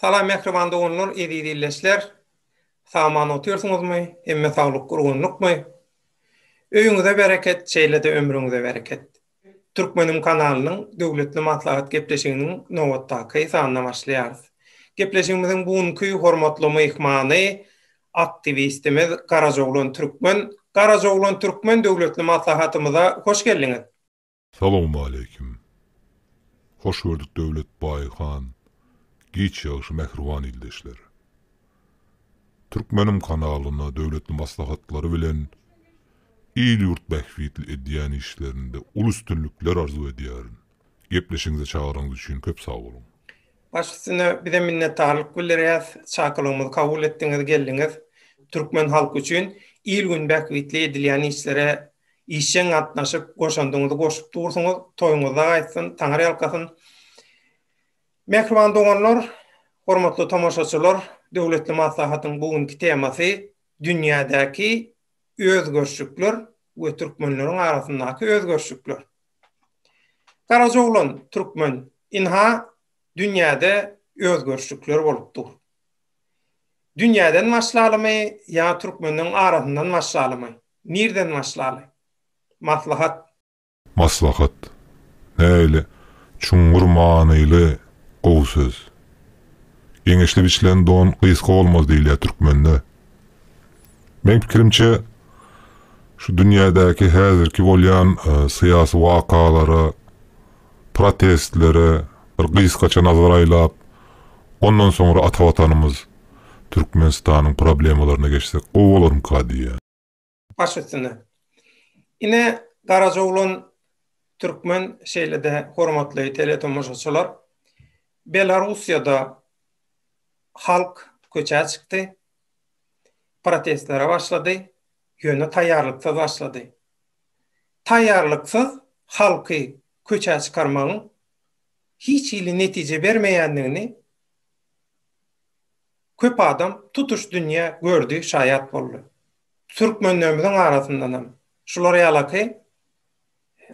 Salam mähriban doganlar, eziz illeçler! Sag-aman otyrsyňyzmy, hemme saglyk, gurgunlykmy? Öýüňize bereket, şeýle-de ömrüňize bereket! Türkmenim kanalynyň Döwletli maslahat gepleşiginiň nobatdaky sanyna başlaýarys. Gepleşigimiziň bu günki hormatly myhmany, aktiwistimiz Garajoglan Türkmen. Garajoglan Türkmen Döwletli maslahatymyza hoş geldiňiz! Salowmaleýkim. Hoş gördük Döwletbaý han, Giç ýagşy mähriban ildeşler. Türkmenim kanalyna döwletli maslahatlary bilen il-ýurt bähbitli edýän işlerinde uly üstünlikler arzuw edýärin. Gepleşigiňize çagyranyňyz üçin köp sag boluň. Baş üstüne bizem minnetdarlyk bildirýäs. Çakylygymyzy kabul etdiňiz, geldiňiz. Türkmen halky üçin il-gün bähbitli edilýän işlere Işjeň gatnaşyp, goşandyňyzy goşup dursuňyz, toýuňyzda gaýtsyn, taňyrýalkasyn! Mähriban doganlar, hormatly tomaşaçylar, döwletli maslahatyň bu günki temasy dünýädäki özgerişlikler we türkmenleriň arasyndaky özgerişlikler. Garajoglan türkmen, ynha, dünýäde özgerişlikler bolup dur. Dünýäden başlalymy ýa türkmenleriň arasyndan başlalymy? Nirden başlaly? Maslahat. Maslahat. Nähili çuňňur manyly gowy söz. Geňeşli biçilen don gysga bolmaz diýilýär türkmende. Meň pikirimçe, şu dünýädäki häzirki bolýan syýasy wakalara protestlere bir gysgaça nazar aýlap, ondan soňra ata Watanymyz Türkmenistanyň problemalaryna geçsek gowy bolarmyka diýýän. Baş üstüne. Ine, garajyglan türkmen, şeýle-de hormatly teletomaşaçylar, Belarussiýada halk köçä çykdy, protestlere başlady, ýöne taýýarlyksyz başlady. taýýarlyksyz halky köçä çykarmagyň hiç hili netije bermeýändigini köp adam, tutuş dünýä gördi, şaýat boldy. Türkmenlerimiziň arasyndanam şular ýalaky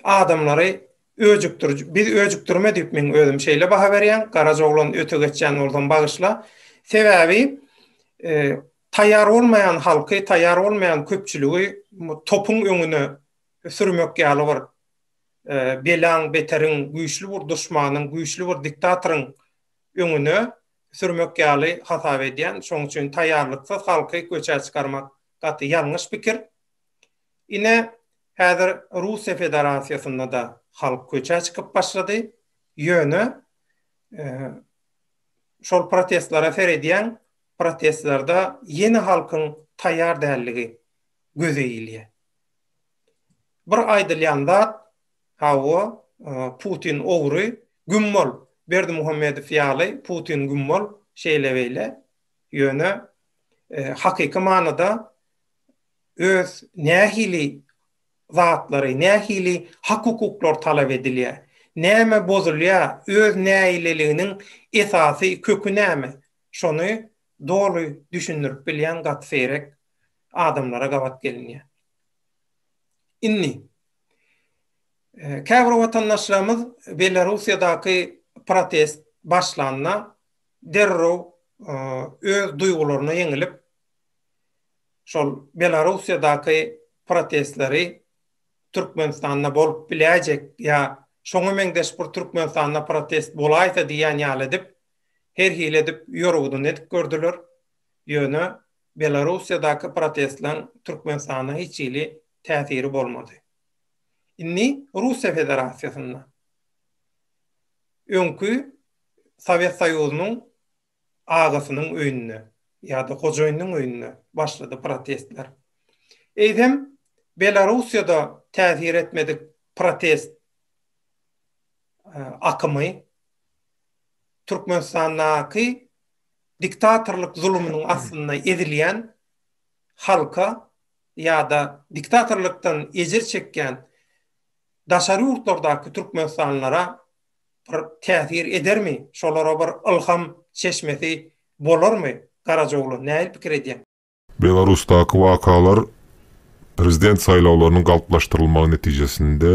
adamlary öjükdiriji, biz öjükdirme diýip men özüm şeýle baha berýän, garaja oglan öte geçýän bolsam bagyşla. Sebäbi Taýýar bolmaýan halky, taýýar bolmaýan köpçüligi topuň öňüne sürmek ýaly bir belaň, beteriň, güýçli bir duşmanyň, güýçli bir diktatoryň öňüne sürmek ýaly hasap edýän. Şonuň üçin taýýarlyksyz halky köçä çykarmak gaty ýalňyş pikir. Ine, häzir Russiýa Federasiýasynda-da halk köçä çykyp başlady. Ýöne şol protestlere seredýäň, protestlerde ýene halkyň taýýar däldigi göze ilýär. Bir aýdylýan zat, Hawa, Putin ogry, güm bol, Berdimuhamedow ýaly Putin güm bol, şeýle-beýle, ýöne hakyky manyda öz nähili zatlary, nähili hak-hukuklar talap edilýär, näme bozulýar, öz nägileliginiň esasy köki näme, Şony doly düşündirip bilýän gaty seýrek adamlara gabat gelinýär. Indi, käbir watandaşlarymyz Belarussiýadaky protest başlanda derrew öz duýgularyna ýeňilip, şol Belarussiýadaky protestleri Türkmenistanda bolup biläýjek ýa şoňa meňzeş bir Türkmenistanda protest bolaýsa diýýän ýaly edip, her hili edip ýorgudyny edip gördüler, ýöne Belarussiýadaky protestlaň Türkmenistana hiç hili täsiri bolmady. Indi Russiýa Federasiýasynda öňki Sowet Soýuzynyň agasynyň öýünde ýa-da hojaýynyň öýünde başlady protestler. Eýsem Belarussiýada täsir etmedik protest akymy Türkmenistandaky diktatorlyk zulumynyň astynda ezilýän halka ýa-da diktatorlykdan ejir çekýän daşary ýurtlardaky türkmenistanlylara bir täsir edermi, şolara bir ylham çeşmesi bolarmy Garajaoglan, nähili pikir edýäň? Belarusdaky wakalar prezident saýlawlarynyň galplaşdyrylmagy netijesinde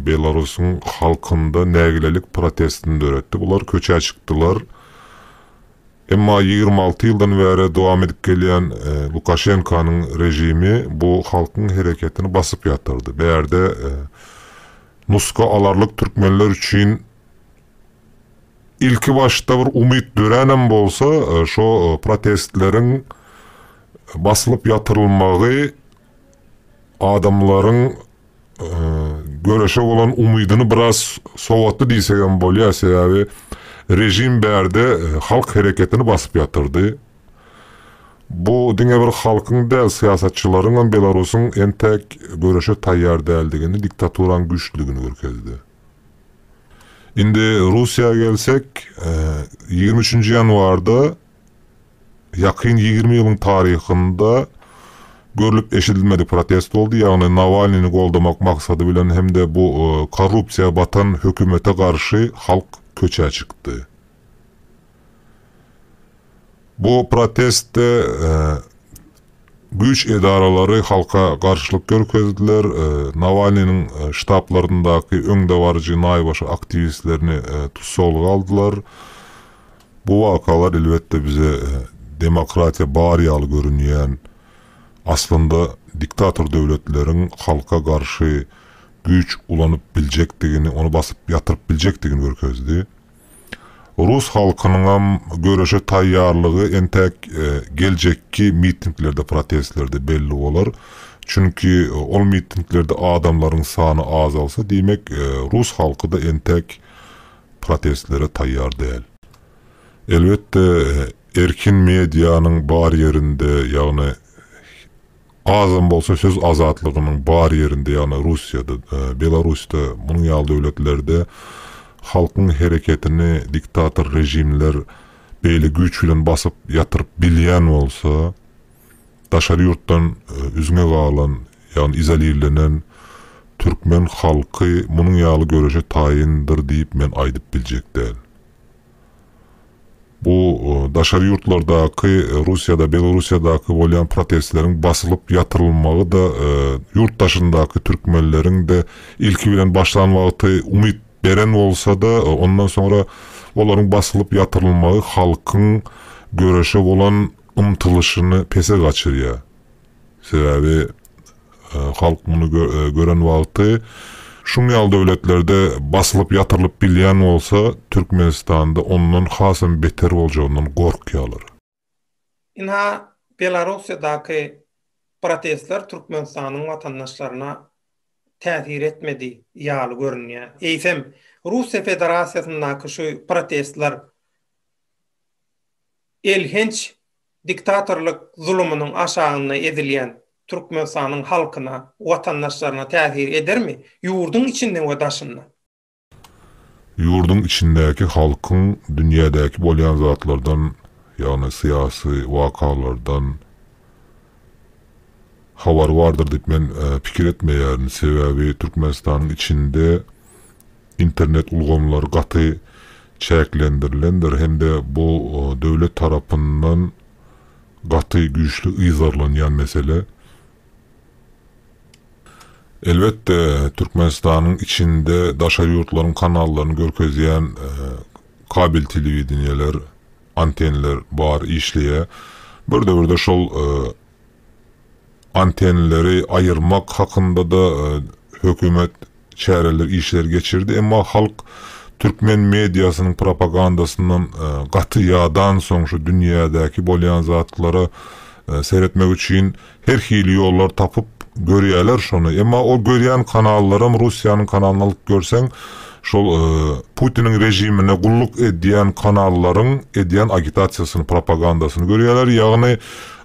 Belarusyň halkynda nägilelik protestini döretdi. Bular köçä çykdylar. Emma ýigrimi alty ýyldan bäri dowam edip gelýän Lukaşenkanyň režimi bu halkyň hereketini basyp ýatyrdy. Bärde nuska alarlyk türkmenler üçin Ilki başda bir umyt döränem bolsa, şo protestleriň basylyp ýatyrylmagy adamlaryň göreşe bolan umydyny biraz sowatdy diýsegem bolýar. Sebäbi režim bärde halk hereketini basyp ýatyrdy. Bu diňe bir halkyň däl, syýasatçylaryňam Belarusyň entäk göreşe taýýar däldigini, diktaturanyň güýçlüdigini görkezdi. Indi Russiýa gelsek, ýigrimi üçünji ýanwarda ýakyn ýigrimi ýylyň taryhynda görlüp-eşidilmedik protest boldy, ýagny Nawalnyny goldamak maksady bilen hem-de bu korrupsiýa batan hökümete garşy halk köçä çykdy. Bu protestde güýç edaralary halka garşylyk görkezdiler, Nawalnynyň ştablaryndaky öňdebaryjy naýbaşy aktiwistlerini tussaglyga aldylar. Bu wakalar elbetde bize demokratiýa bar ýaly görünýän, aslynda diktator döwletleriň halka garşy güýç ulanyp biljekdigini, ony basyp ýatyryp biljekdigini görkezdi. Rus halkynyňam göreşe taýýarlygy entäk geljekki mitinglerde, protestlerde belli bolar. Çünki ol mitinglerde adamlaryň sany azalsa, diýmek, rus halky-da entäk protestlere taýýar däl. Elbetde, erkin medianyň bar ýerinde, ýagny Gazam bolsa söz azatlygynyň bar ýerinde, ýagny Russiýada, Belarusda, munuň ýaly döwletlerde halkyň hereketini diktator režimler beýle güýç bilen basyp ýatyryp bilýän bolsa, daşary ýurtdan üzňe galan, ýagny izolirlenen türkmen halky munuň ýaly göreşe taýyndyr diýip men aýdyp biljek däl. Bu daşary ýurtlardaky, Russiýada, Belorussiýadaky bolýan protestleriň basylyp ýatyrylmagy-da ýurt daşyndaky türkmenleriň-de ilki bilen başlan wagty umyt beren bolsa-da, ondan soňra olaryň basylyp ýatyrylmagy halkyň göreşe bolan ymtylyşyny pese gaçyrýar. Sebäbi halk muny gören wagty şuň ýaly döwletlerde basylyp ýatyrylyp bilýän bolsa Türkmenistanda ondan hasam beter boljagyndan gorkýarlar. Ynha Belarussiýadaky protestler Türkmenistanyň watandaşlaryna täsir etmedi ýaly görünýär. Eýsem Russiýa Federasiýasyndaky şu protestler elhenç Diktatorlyk zulumynyň aşagynda ezilýän Türkmenistanyň halkyna, watandaşlaryna täsir edermi, ýurduň içinde we daşynda? Ýurduň içindäki halkyň dünýädäki bolýan zatlardan, ýagny syýasy wakalardan, Habary bardyr diýip men pikir etmeýärin. Sebäbi Türkmenistanyň içinde internet ulgamlary gaty çäklendirilendir hem-de bu döwlet tarapyndan gaty güýçli yzarlanýan mesele. Elbetde, Türkmenistanyň içinde daşary ýurtlaryň kanallaryny görkezýän kabel telewideniýeler, antenler bar, işleýär. Bir döwürde şol Antennleri aýyrmak hakynda-da hökümet çäreler, işler geçirdi, emma halk türkmen mediasynyň propagandasyndan gaty ýadansoň, şu dünýädäki bolýan zatlara seretmek üçin her hili ýollar tapyp görýärler şony. Emma o görýän kanallaram, Russiýanyň kanalyny alyp görseň, şol Putiniň režimine gulluk edýän kanallaryň edýän agitasiýasyny, propagandasyny görýärler. Ýagny,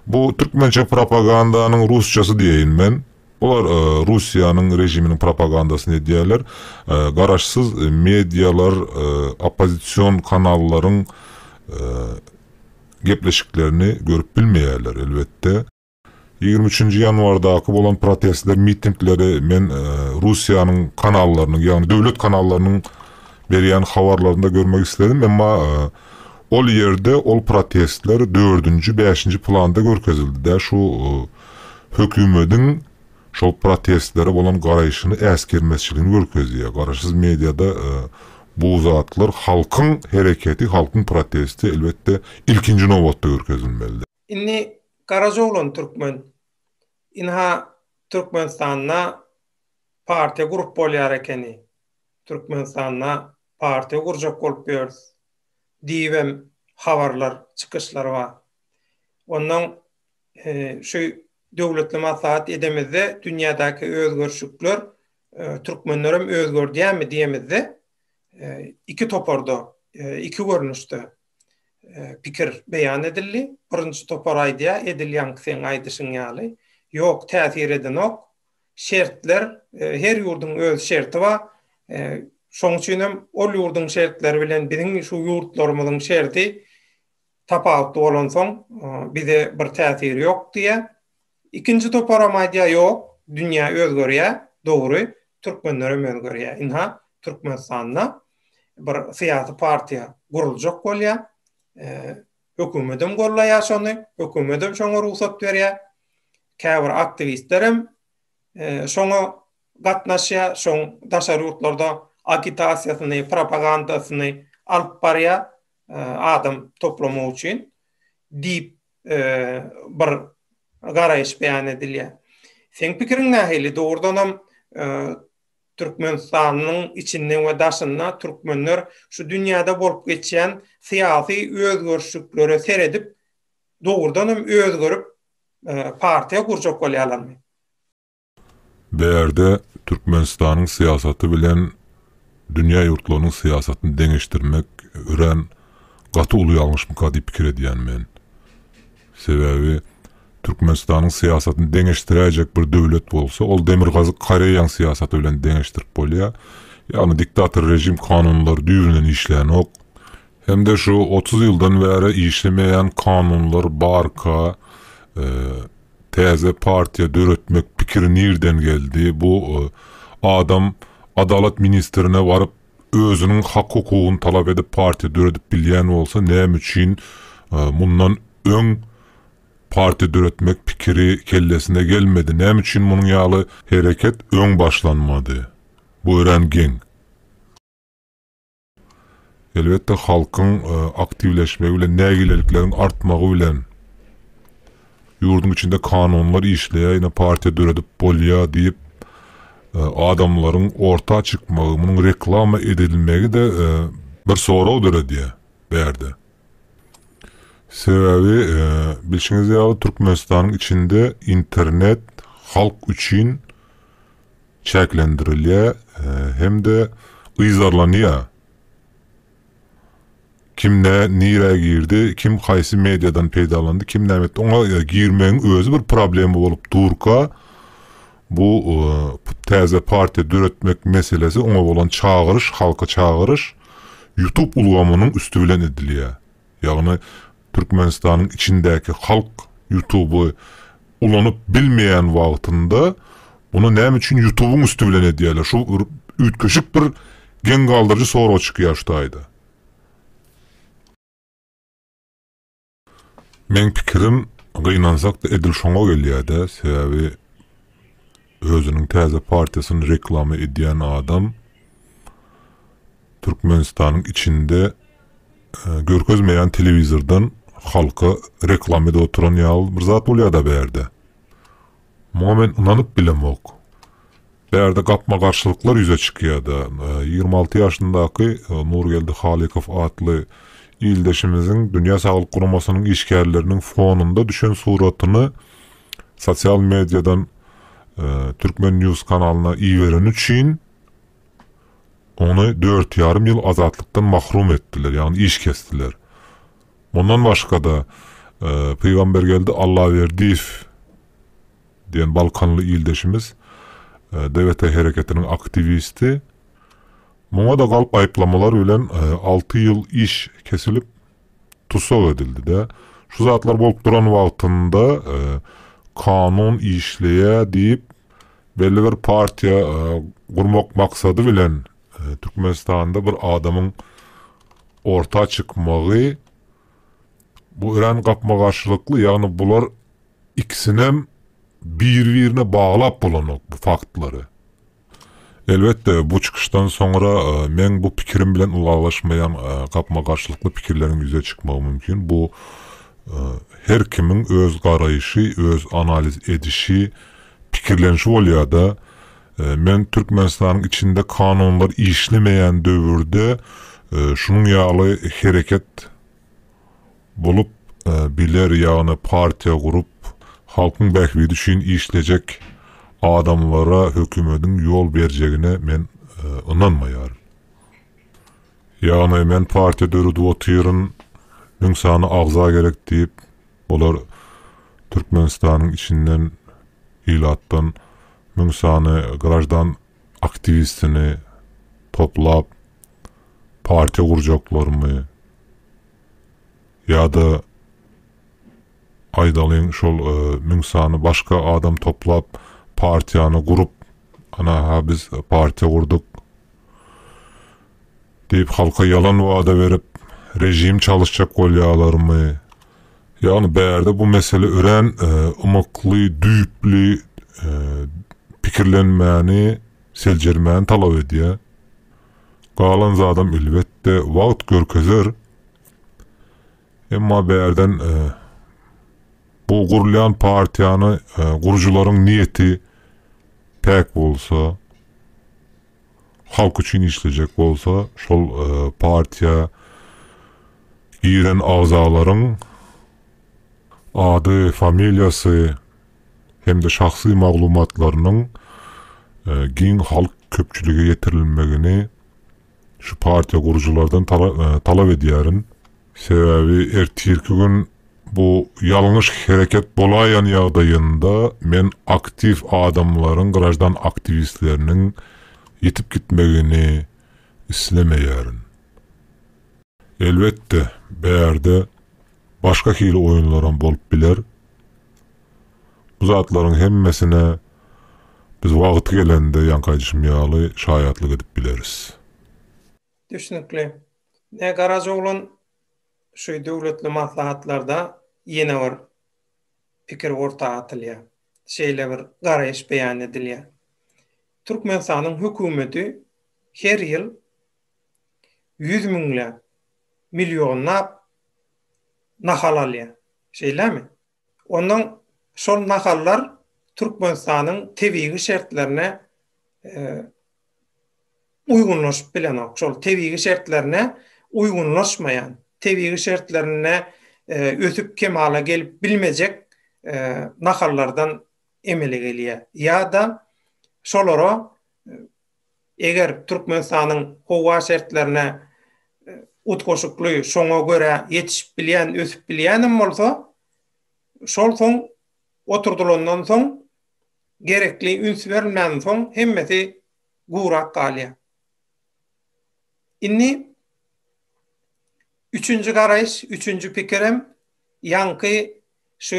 Bu türkmençe propagandanyň rusçasy diýeýin men. Bular Russiýanyň režiminiň propagandasyny edýärler. Garaşsyz medialar oppozision kanallaryň gepleşiklerini görüp bilmeýärler elbetde. Ýigrimi üçünji ýanwardaky bolan protestler, mitingleri men Russiýanyň kanallarynyň, ýagny döwlet kanallarynyň berýän habarlarynda görmek isledim, emma Ol ýerde ol protestler dördünji bäşinji planda görkezildidä şu hökümediň şol protestlere bolan garaýşyny äsgermezçiligini görkezýär garaşsyz mediada bu zatlar halkyň hereketi halkyň protesti elbetde ilkinji nobatda görkezilmelidä. Indi garajoglan türkmen ynha türkmenistanda partiýa gurup bolýar ekeni türkmenistanda partiýa gurjak bolup ýörüs diýibem habarlar, çykyşlar bar. Ondan şu döwletli maslahat edemizde dünýädäki özgerişikler türkmenlerem özgerdýärmi diýemizde iki toparda, iki görnüşde pikir beýan edildi. Birinji topar aýdýar, edil ýaňky seň aýdyşyň ýaly, ýok täsir edenok, şertler her ýurduň öz şerti bar. Şoň üçin hem ol ýurduň şertleri bilen biziň şu ýurtlarymyzyň şerti tapawutly bolansoň, bize bir täsiri ýok diýýär. Ikinji toparam aýdýar, ýok, dünýä özgerýär, dogry, türkmenler hem özgerýär. Ynha, Türkmenistanda bir syýasy partiýa guruljak bolýar. Hökümetem gollaýar şony, hökümetem şoňa rugsat berýär. Käbir aktiwistlerem şoňa gatnaşýar, şoň daşary ýurtlarda agitasiýasyny, propagandasyny alyp barýar, adam toplamak üçin diýip bir garaýyş beýan edilýär. Seň pikiriň nähili? Dogrudanam Türkmenistanyň içinde we daşynda türkmenler şu dünýäde bolup geçýän syýasy özgerişliklere seredip, dogrudan hem özgerip, partiýa gurjak bolýarlarmy? Bärde Türkmenistanyň syýasaty bilen dünýä ýurtlarynyň syýasatyny deňeşdirmek örän gaty uly ýalňyşmyka diýip pikir edýän men. Sebäbi Türkmenistanyň syýasatyny deňeşdiräýjek bir döwlet bolsa, ol Demirgazyk Koreýaň syýasaty bilen deňeşdirip bolýar. Ýagny diktator režim kanunlary düýbünden işlänok. Hem-de şu otuz ýyldan bäri işlemeýän kanunlar barka, täze partiýa döretmek pikiri nirden geldi? Bu adam Adalat ministrine baryp, özüniň hak hukugyny talap edip partiýa döredip bilýän bolsa näme üçin mundan öň partiýa döretmek pikiri kellesine gelmedi, näme üçin munuň ýaly hereket öň başlanmady? Bu örän geň. Elbetde halkyň aktiwleşmegi bilen nägilelikleriň artmagy bilen. Ýurduň içinde kanunlar işleýär, ýöne partiýa döredip bolýar diýip, adamlaryň orta çykmagy, munuň reklama edilmegi-de bir sorag döredýär bärde. Sebäbi, bilşiňiz ýaly, Türkmenistanyň içinde internet halk üçin çäklendirilýär hem-de yzarlanýar. Kim nä, nirä girdi, kim haýsy mediadan peýdalandy, kim näme etdi, oňa girmegiň özi bir problema bolup durka, bu täze partiýa döretmek meselesi, oňa bolan çagyryş, halky çagyryş Youtube ulgamynyň üsti bilen edilýär. Ýagny Türkmenistanyň içindäki halk Youtuby Ulanyp bilmeýän wagtynda muny näme üçin ýutubyň üsti bilen edýäler şu bir üýtgeşik bir geň galdyryjy sorag çykýar şu taýda. Meň pikirim gynansakda edil şoňa gelýädä sebäbi Özüniň täze partiýasyny reklama edýän adam Türkmenistanyň içinde görkezmeýän telewizordan halka reklama edip oturan ýaly bir zat bolýada bärde. Muňa men ynanyp bilemok. Bärde gapma-garşylyklar ýüze çykýada. Ýigrimi alty ýaşyndaky Nurgeldi Halykow atly ildeşimiziň Dünýä Saglyk Guramasynyň işgärleriniň fonunda düşen suratyny Sosial mediadan Türkmen news kanalyna ibereni üçin ony dört ýarym ýyl azatlykdan mahrum etdiler, ýagny iş kesdiler. Mundan başga-da, Pygambergeldi Allaberdiýew diýen balkanly ildeşimiz, DWT hereketiniň aktiwisti, muňa-da galp aýyplamalar bilen alty ýyl iş kesilip, Tussag edildidä şu zatlar bolup duran wagtynda kanun işleýä diýip belli bir partiýa gurmak maksady bilen Türkmenistanda bir adamyň orta çykmagy bu örän gapma garşylykly ýagny bular ikisinem bir birine baglap bolanok bu faktlary. Elbetde, bu çykyşdan soňra meň bu pikirim bilen ylalaşmaýan gapma-garşylykly pikirleriň ýüze çykmagy mümkin. Bu her kimiň öz garaýşy, öz analiz edişi, pikirlenişi bolýar-da. Men Türkmenistanyň içinde kanunlar işlemeýän döwürde şunuň ýaly hereket bolup biler ýagny partiýa gurup halkyň bähbidi üçin işlejek adamlara hökümediň ýol berjegine men ynanmaýaryn ýagny men partiýa döredip otyryn müň sany agza gerek diýip olar türkmenistanyň içinden ilatdan müň sany graždan aktiwistini toplap partiýa gurjaklarmy ýa-da aýdalyň şol müň sany başga adam toplap partiýany gurup ana-ha biz partiýa gurduk diýip halka ýalan wada berip režim çalyşjak bolýalarmy? Ýagny bärde bu mesele örän ymykly, düýpli pikirlenmäni, seljermäni talap edýär. Galan zadam elbetde wagt görkezer. Emma bärden bu gurulýan partiýany gurujylaryň niýeti päk bolsa, Halk üçin işlejek bolsa şol partiýa giren agzalaryň ady, familiýasy hem-de şahsy maglumatlarynyň giň halk köpçülige ýetirilmegini şu partiýa gurujylardan talap edýärin. Sebäbi ertirki gün bu ýalňyş hereket bolaýan ýagdaýynda men aktiw adamlaryň, graždan aktiwistleriniň ýitip gitmegini islemeýärin. Elbetde, bärde başga hili oýunlaram bolup biler. Bu zatlaryň hemmesine biz wagty gelende, ýaňky aýdyşym ýaly, şaýatlyk edip bileris. Düşnükli. Nä garaja oglan şu döwletli maslahatlarda ýene bir pikir orta atylýar. Şeýle bir garaýyş beýan edilýär. Türkmenistanyň hökümeti her ýyl ýüz müňläp, millionlap nahal alýar. Şeýlemi? Ondan şol nahallar Türkmenistanyň tebigy şertlerine uýgunlaşyp bilenok. Şol tebigy şertlerine uýgunlaşmaýan, tebigy şertlerinde ösüp kemala gelip bilmejek nahallardan emele gelýär. Ýa-da şolara Eger Türkmenistanyň howa şertlerine utgaşykly, şoňa görä ýetişip bilýän, ösüp bilýänem bolsa, şol soň oturdylandan soň, gerekli üns berilmänden soň hemmesi gurak galýar. Indi üçünji garaýyş, üçünji pikirem ýaňky şu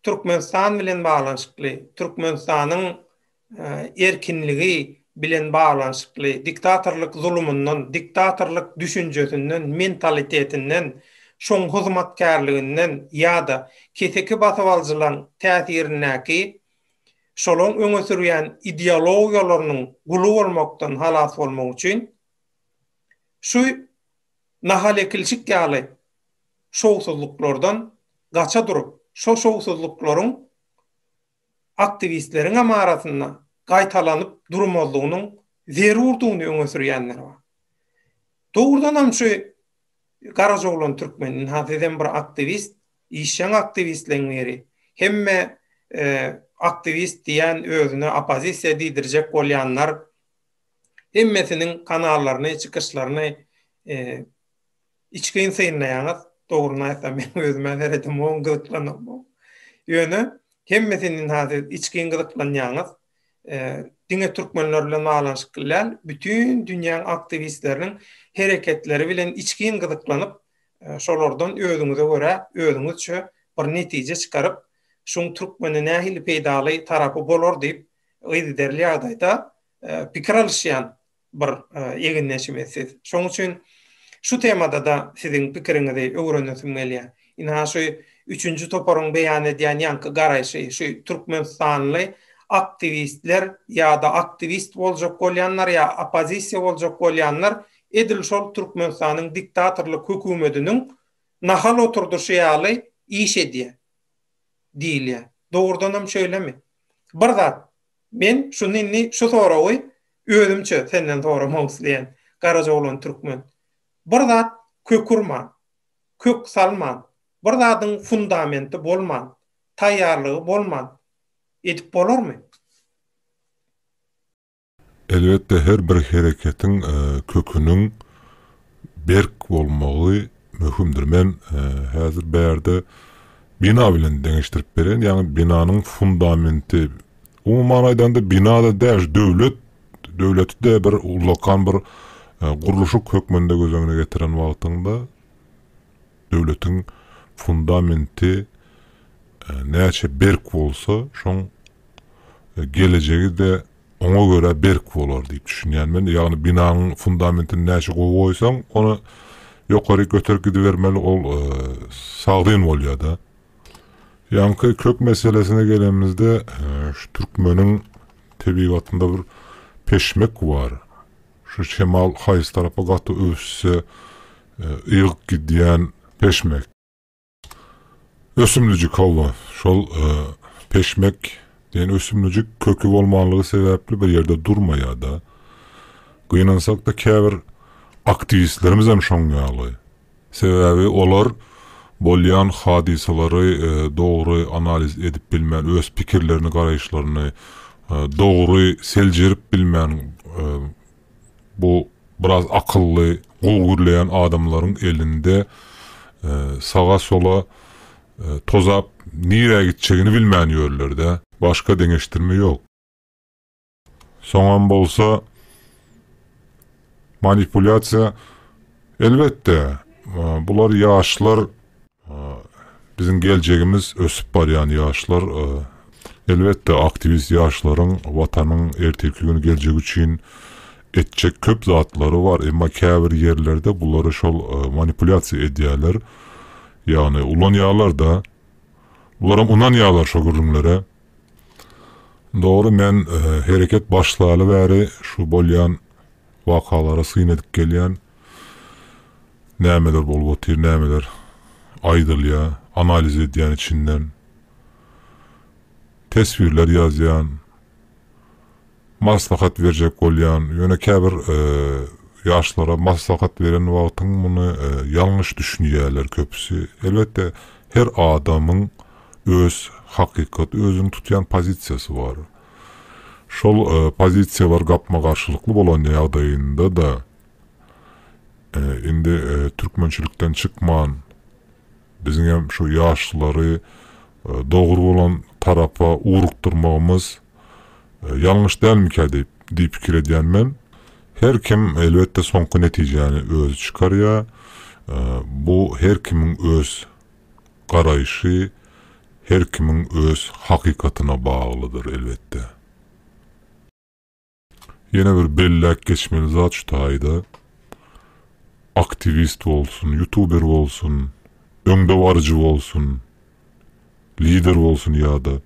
Türkmenistan bilen baglanyşykly, Türkmenistanyň erkinligi bilen baglanyşykly diktatorlyk zulumyndan, diktatorlyk düşünjesinden, mentalitetinden, şoň hyzmatkärliginden ýa-da keseki basybalyjylaryň täsirindäki şolaň öňe sürýän ideologiýalarynyň guly bolmakdan halas bolmak üçin şu nahalekilçik ýaly şowsuzlyklardan gaça durup, şo şowsuzlyklaryň aktiwistleriňem arasynda gaýtalanyp durmazlygynyň zerurdygyny öňe sürýänler bar. Dogrudanam şu Garajoglan Türkmen, ynha sizem bir aktiwist, işjeň aktiwistleň biri. Hemme aktiwist diýen özüne oppozisiýa diýdirjek bolýanlar hemmesiniň kanallaryny, çykyşlaryny Içgin synlaýaňyz, dogryny aýtsam meň özümä seredem oň gyzyklanamok. Ýöne hemmesinden ha siz içgin gyzyklanýaňyz. Diňe türkmenler bilen baglanyşykly däl, bütin dünýäň aktiwistleriniň hereketleri bilen içgin gyzyklanyp, şolardan özüňize görä, özüňizçe bir netije çykaryp, şuň türkmene nähili peýdaly tarapy bolar diýip, yzygiderli ýagdaýda pikir alyşýan bir egindeşimiz siz. Şoň üçin şu temada-da siziň pikiriňizi öwrenesim gelýär. Ynha şu üçünji toparyň beýan edýän ýaňky garaýşy, şu türkmenistanly aktiwistler ýa-da aktiwist boljak bolýanlar ýa oppozisiýa boljak bolýanlar edil şol Türkmenistanyň diktatorlyk hökümediniň nahal oturdyşy ýaly iş edýär diýilýär. Dogrudanam şeýlemi? Bir zat, Men şuny indi şu soragy özümçe senden soramak isleýän, garaja oglan türkmen. Bir zat kök urman, kök salman, bir zadyň fundamenti bolman, taýýarlygy bolman edip bolarmy? Elbetde her bir hereketiň köküniň berk bolmagy möhümdir. Men häzir bärde bina bilen deňeşdirip berýän, ýagny binanyň fundamenti. Umuman aýdanda bina-da däl, döwlet, döwleti-de bir ullakan bir gurluşyk hökmünde göz öňüne getiren wagtyňda döwletiň fundamenti näçe berk bolsa, şoň gelejegi-de oňa görä berk bolar diýip düşünýän men. Ýagny binanyň fundamentini näçe gowy goýsaň, ony ýokaryk göterip gidibermeli ol sagdyn bolýar-da. Ýaňky kök meselesine gelenimizde, şu türkmeniň tebigatynda bir peşmek bar. Şu şemal haýsy tarapa gaty öwüsse, ygyp gidýän peşmek. Ösümlijik, hawa, şol peşmek diýen ösümlijik köki bolmanlygy sebäpli bir ýerde durmaýar-da. Gynansak-da käbir aktiwistlerimizem şoň ýaly. Sebäbi olar bolýan hadysalary dogry analiz edip bilmän, öz pikirlerini, garaýyşlaryny dogry seljerip bilmän, Bu biraz akylly, gowy gürleýän adamlaryň elinde saga-sola tozap nirä gitjegini bilmän ýörler-dä. Başga deňeşdirme ýok. Soňam bolsa manipulýasiýa, elbetde, bular ýaşlar Biziň geljegimiz ösüp barýan ýaşlar. Elbetde, aktiwist ýaşlaryň Watanyň ertirki gün geljegi üçin etjek köp zatlary bar. Emma käbir ýerlerde bulary şol manipulýasiýa edýärler. Ýagny, ulanýarlar-da. Bularam ynanýarlar şo gürrüňlere. Dogry, men hereket başlaly bäri şu bolýan wakalara syn edip gelýän nämeler bolup otyr, nämeler aýdylýar, analiz edýän içinden, teswirler ýazýan, maslahat berjek bolýan, ýöne käbir ýaşlara maslahat beren wagtyň muny ýalňyş düşünýärler köpüsi. Elbetde, her adamyň öz hakykaty, özüniň tutýan pozisiýasy bar. Şol pozisiýalar gapma-garşylykly bolan ýagdaýynda-da, indi türkmençilikden çykman, biziň hem şu ýaşlary dogry bolan tarapa ugrukdyrmagymyz ýalňyş dälmikä diýip pikir edýän men. Her kim, elbetde, soňky netijäni özi çykarýar. Bu her kimiň öz garaýşy her kimiň öz hakykatyna baglydyr elbetde. Ýene bir belläp geçmeli zat şu taýda, aktiwist bolsun, ýutuber bolsun, öňdebaryjy bolsun, lider bolsun ýa-da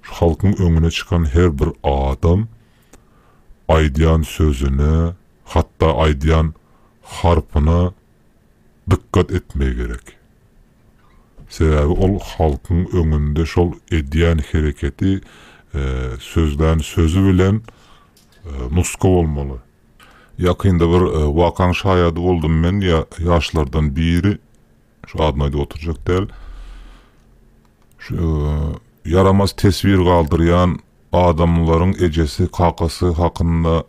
şu halkyň öňüne çykan her bir adam aýdýan sözüne, hatda aýdýan harpyna dykgat etmegi gerek. Sebäbi ol halkyň öňünde şol edýän hereketi, sözlän sözi bilen nusga bolmaly. Ýakynda bir wakaň şaýady boldum men, ýaşlardan biri, şu adyny aýdyp oturjak däl, şu ýaramaz teswir galdyrýan adamlaryň ejesi, kakasy hakynda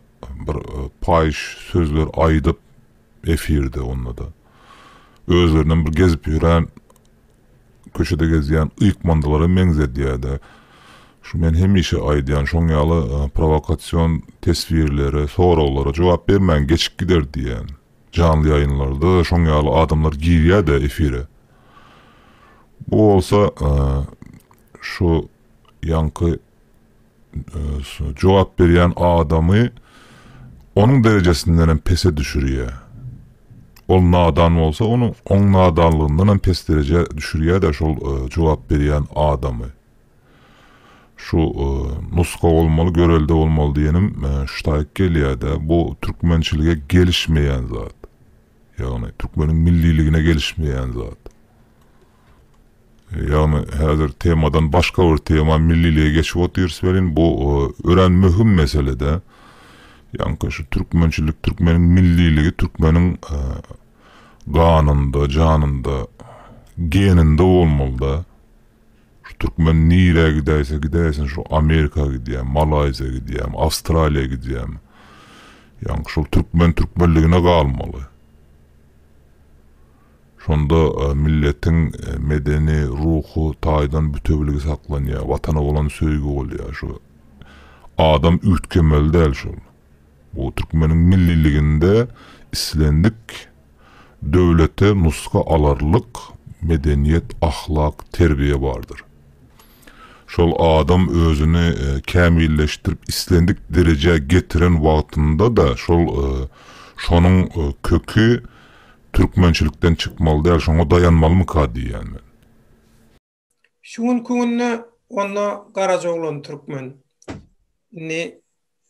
bir paýyş sözler aýdyp, efirde onda-da. Özlerinem bir gezip ýören, köçede gezýän ýykmandylara meňzedýär-de. Şu men hemişe aýdýan şoň ýaly prowokasion teswirlere, soraglara jogap bermäň, geçip gider diýýän. Janly ýaýynlarda şoň ýaly adamlar girýär-de efire. Bu bolsa şu ýaňky jogap berýän adamy onuň derejesinde hem pese düşürýär. Ol nadan bolsa, ony oň nadanlygyndan hem pes derejä düşürýär-de şol jogap berýän adamy. Şu nusga bolmaly, görelde bolmaly diýenim şu taýyk gelýär-de, bu türkmençilige gelişmeýän zat. Ýagny türkmeniň milliligine gelişmeýän zat. Ýagny häzir temadan başga bir tema millilige geçip otyrys welin bu örän möhüm meselede. Ýaňky şu türkmençilik türkmeniň milliligi türkmeniň ganynda, janynda, geninde bolmalyda. Şu türkmen nirä gidäýse gidäýsin şu Amerika gidýämi, Malaýziýa gidýämi, Awstraliýa gidýämi. Ýaňky şol türkmen türkmenligine galmaly. Şonda milletiň medeni, ruhy taýdan bütewiligi saklanýar, Watana bolan söýgi bolýar. Şu adam üýtgemeli däl şol. Bu türkmeniň milliliginde islendik döwlete nusga alarlyk medeniýet, ahlak, terbiýe bardyr. Şol adam özüni kämilleşdirip islendik derejä getiren wagtynda-da şol şonuň köki Türkmençilikden çykmaly däl, şoňa daýanmalymyka diýýän men. Şu günki günde onda garaja oglan türkmen. Indi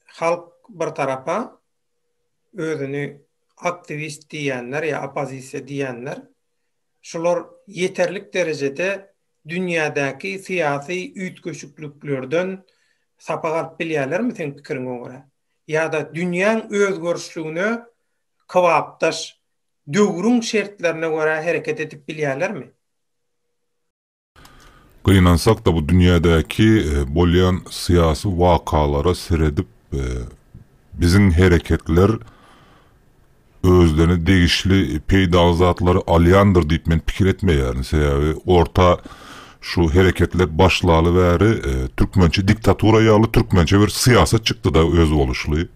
halk bir tarapa özüni aktiwist diýýänler ýa oppozisiýa diýýänler, şular ýeterlik derejede dünýädäki syýasy üýtgeşikliklerden sapak alyp bilýärlermi seň pikiriňe görä? Ýa-da dünýäň özgerişligine kybapdaş döwrüň şertlerine görä hereket edip bilýärlermi? Gynansak-da bu dünýädäki bolýan syýasy wakalara seredip biziň hereketler özlerine degişli peýdaly zatlary alýandyr diýip men pikir etmeýärin. Sebäbi orta şu hereketler başlaly bäri türkmençe diktatura ýaly türkmençe bir syýasat çykdy-da özboluşly.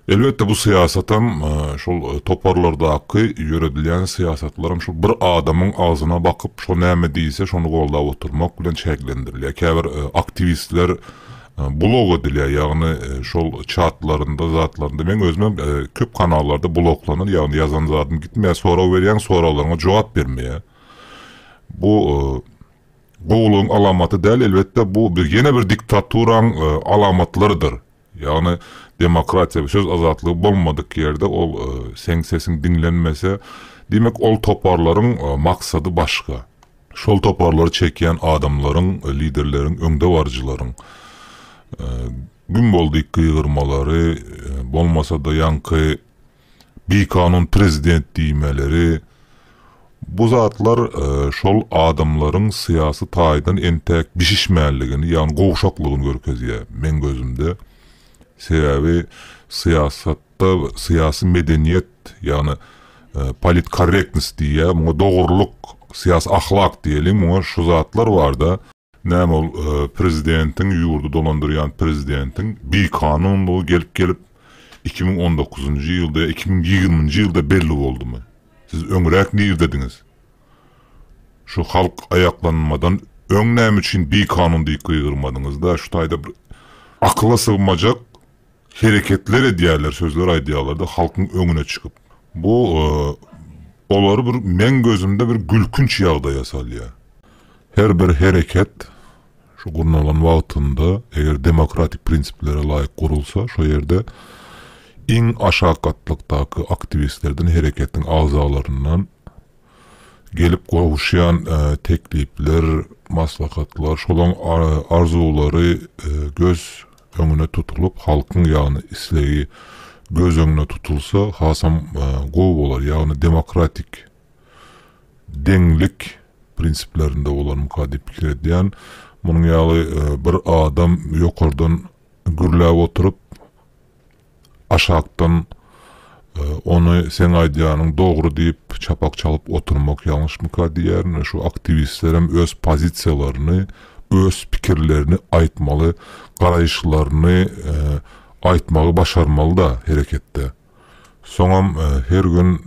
Elbetde bu syýasatam, şol toparlardaky ýöredilýän syýasatlaram şol bir adamyň agzyna bakyp, şo näme diýse, şony goldap oturmak bilen çäklendirilýär. Käbir aktiwistler blok edilýär, ýagny şol çatlarynda, zatlarynda, meň özümem köp kanallarda bloklanýar, ýagny ýazan zadym gitmeýär, sorag berýäň, soraglaryňa jogap bermeýär. Bu gowulygyň alamaty däl, elbetde bu ýene bir diktaturaň alamatlarydyr. Ýagny demokratiýa, söz azatlygy bolmadyk ýerde ol seň sesiň diňlenmese, diýmek ol toparlaryň maksady başga. Şol toparlary çekýän adamlaryň, liderleriň, öňdebaryjylaryň güm boldyk gygyrmalary, bolmasa-da ýaňky Bikanun prezident diýmeleri, bu zatlar şol adamlaryň syýasy taýdan entäk bişişmänligini, ýagny gowşaklygyny görkezýär, meň gözümde. Sebäbi syýasatda syýasy medeniýet, ýagny politkorrektnost diýýär, muňa dogrulyk, syýasy ahlak diýeliň, muňa şu zatlar bar-da, Näme ol prezidentiň ýurdy dolandyrýan prezidentiň bikanunlygy gelip gelip iki müň on dokuzynjy ýylda ýa iki müň ýigriminji ýylda belli boldumy? Siz öňräk nirdediňiz? Şu halk aýaklanmadan öň näme üçin bikanun diýip gygyrmadyňyzda şu taýda bir akyla sygmajak hereketler edýärler, sözler aýdýarlar-da halkyň öňüne çykyp. Bu olary bir meň gözümde bir gülkünç ýagdaýa salýar. Her bir hereket şu gurnalan wagtynda eger demokratik prinsiplere laýyk gurulsa, şo ýerde iň aşak gatlakdaky aktiwistlerden, hereketiň agzalaryndan gelip gowuşýan teklipler, maslahatlar, şolaň arzuwlary göz öňüne tutulyp, halkyň ýagny islegi göz öňüne tutulsa hasam gowy bolar. Ýagny demokratik, deňlik prinsiplerinde bolarmyka diýip pikir edýän. Munuň ýaly bir adam ýokardan gürläp oturyp, Aşakdan ony seň aýdýanyň dogry diýip çapak çalyp oturmak ýalňyşmyka diýýärin we şu aktiwistlerem öz pozisiýalaryny, öz pikirlerini aýtmaly, garaýyşlaryny aýtmagy başarmaly-da hereketde. Soňam her gün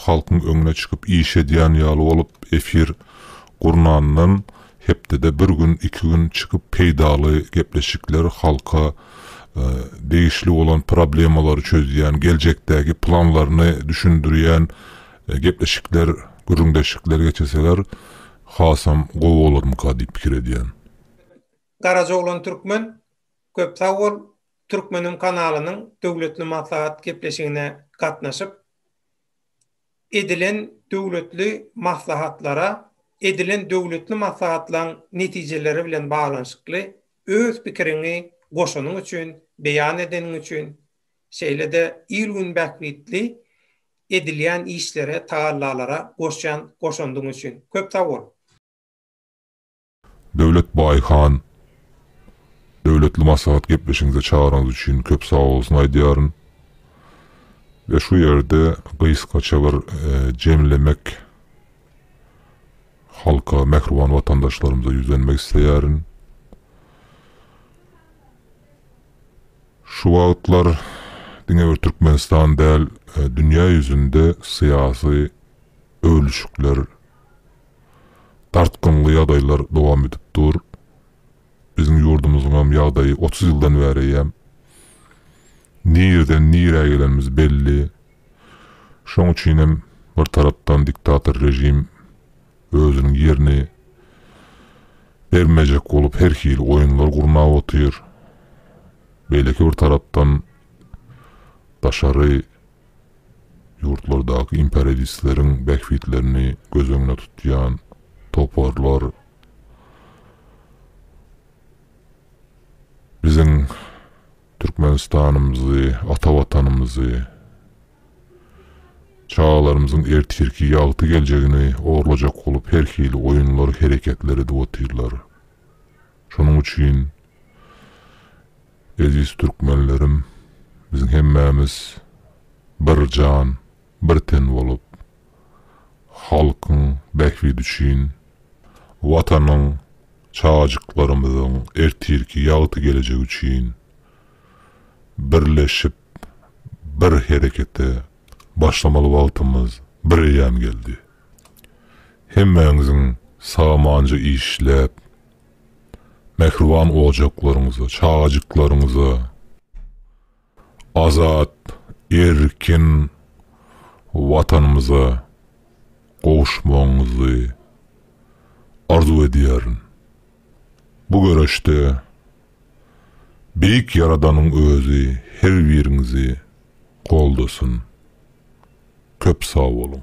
halkyň öňüne çykyp iş edýän ýaly bolup efir gurnandan Hepdede bir gün, iki gün çykyp peýdaly gepleşikler halka degişli bolan problemalary çözýän, geljekdäki planlaryny düşündirýän gepleşikler, gürrüňdeşlikler geçirseler hasam gowy bolarmyka diýip pikir edýän. Garajaoglan Türkmen köp sag bol Türkmeniň kanalynyň döwletli maslahat gepleşigine gatnaşyp edilen döwletli maslahatlara, edilen döwletli maslahatlaň netijeleri bilen baglanyşykly öz pikiriňi goşanyň üçin, beýan edeniň üçin, şeýle-de il-gün bähbitli edilýän işlere, tagallalara goşýan goşandyň üçin köp sag bol! Döwlet Baýhan Döwletli maslahat gepleşigiňize çagyraňyz üçin köp sagbolsun aýdýaryn. We şu ýerde gysgaça bir jemlemek halka, mähriban watandaşlarymyza ýüzlenmek isleýärin. Şu wagtlar diňe bir Türkmenistan däl, dünýä ýüzünde syýasy öwlüşikler, Dartgynly ýagdaýlar dowam edip dur. Biziň ýurdumyzyňam ýagdaýy otuz ýyldan bäreýem nireden nirä gelenimiz belli. Şoň üçinem bir tarapdan diktator režim özüniň ýerini bermejek bolup her hili oýunlar gurnap otyr. Beýleki bir tarapdan daşary Ýurtlardaky imperialistleriň bähbitlerini göz öňüne tutýan toparlar biziň Türkmenistanymyzy, ata Watanymyzy, çagalarymyzyň ertirki ýagty geljegini orlajak bolup her hili oýunlar, hereketler edip otyrlar. Şonuň üçin. Eziz Türkmenlerim biziň hemmämiz bir jan bir ten bolup halkyň bähbidi üçin watanyň çajyklarymyzyň ertirki ýagty gelejegi üçin birleşip bir herekete başlamaly wagtymyz bir eýýäm geldi. Hemmäňiziň samanja işläp mähriban ojaklaryňyza, çagajyklaryňyza azat, erkin Watanymyza gowuşmagyňyzy arzuw edýärin. Bu göreşde Beýik Ýaradanyň özi her biriňizi goldasyn. Köp sag boluň!